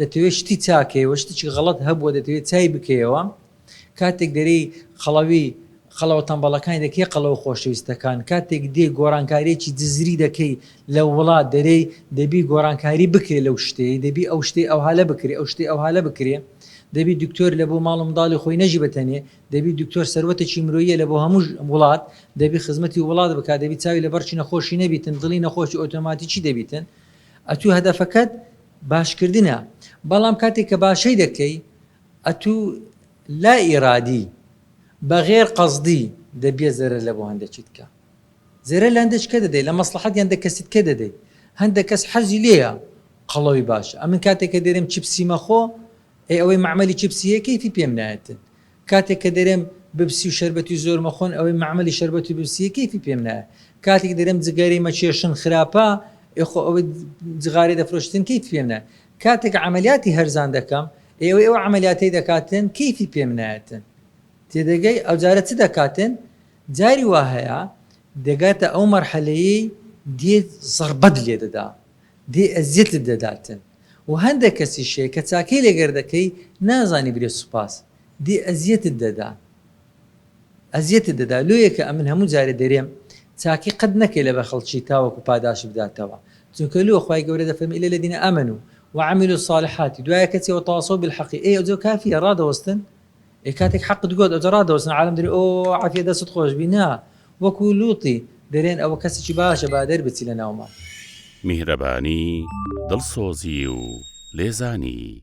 دەتەوێت شتی چاکەیەوە شتێکی غەڵەت هەبووە دەتەوێت چای بکەیەوە کاتێک دەرێی قەڵەوی قەڵەوە تەمبەڵەکانی دەکەی قەڵەوە خۆشەویستەکان کاتێک دێی گۆڕانکاریەکی جزری دەکەی لە وڵات دەرێی دەبی گۆڕانکاری بکرێ لەو شتەی دەبی ئەو شتەی ئەوها لە بکرێ ئەو شتەی ئەوها لە بکرێ دەبی دکتۆر لە بۆ ماڵ و منداڵی خۆی نەژی بە تەنێ دەبی دکتۆر سەروەتێکی مرۆیە لە بۆ هەموو وڵات دەبی خزمەتی وڵات بکات دەبی چاوی لە بەڕکی نەخۆشی نەبیتن دڵی نەخۆشی ئۆتۆماتیکی دەبیتن ئەتوو هەدەفەکەت باشکردنە بەڵام کاتێک کە باشەی دەکەی ئەتوو لا ئیرادی بە غێر قەزدی دەبیە زەرەر لە بۆ هەندەچیتکە زەرەر لە هەندەچکە دەدەی لە مەسڵەحەتی هەندە کەسیتکە دەدەی هەندە کەس حەزی لێیە قەڵەوی باشە ئەمن کاتێک کە دەرێم چپسی مەخۆ ئەی ئەوەی مەعمەلی چپسیە کەیفی پێم نایەتن کاتێک کە دەرێم ببسی و شەربەتی زۆر مەخۆن ئەوەی مەعمەلی شەربەتی ببسیە کەیفی پێم نایە کاتێک دەرێم جگەرەی مەکێشن خراپە ئێ خۆ ئەوەی جغارەی دەفرۆشتن کەیفی پێم نایە کاتێک عەمەلیاتی هەرزان دەکەم ئێ ئەوەی ئەو عەمەلیاتەی دەکاتن کەیفی پێم نایەتن تێدەگەی ئەو جارە چ دەکاتن جاری وا هەیە دەگاتە ئەو مەرحەلەیەی دێت زەڕبەت لێ دەدا. دێ ئەزیەتت دەداتن و هەندەک کەسیش هەیە کە چاکەی لەگەر دەکەی نازانی برێ سوپاس دێ ئەزیەتت دەدان ئەزیەتت دەدا لۆ یەکە ئەمن هەموو جارێ دەرێم چاکی قەت نەکەی لەبەر خەڵکی تاوەکو پاداشت بداتەوە چونکە لۆ خوای گەورە دەفەرمی الا الذین آمنوا وعملوا الصالحات دوایە کەچی وتواصوا بالحق ئێ ئەوجۆ کافیە ڕادەوەستن ئێ کاتێک حەقت گۆت ئەوجە ڕادەوەستن عالەم دەرێ ئۆۆ عافیە دەستت خۆشبی نا وەکو لوتی دەرێن ئەوە کەسیکی باشە با دەربچی لەناومان. میهرەبانی، دڵسۆزی و لێزانی.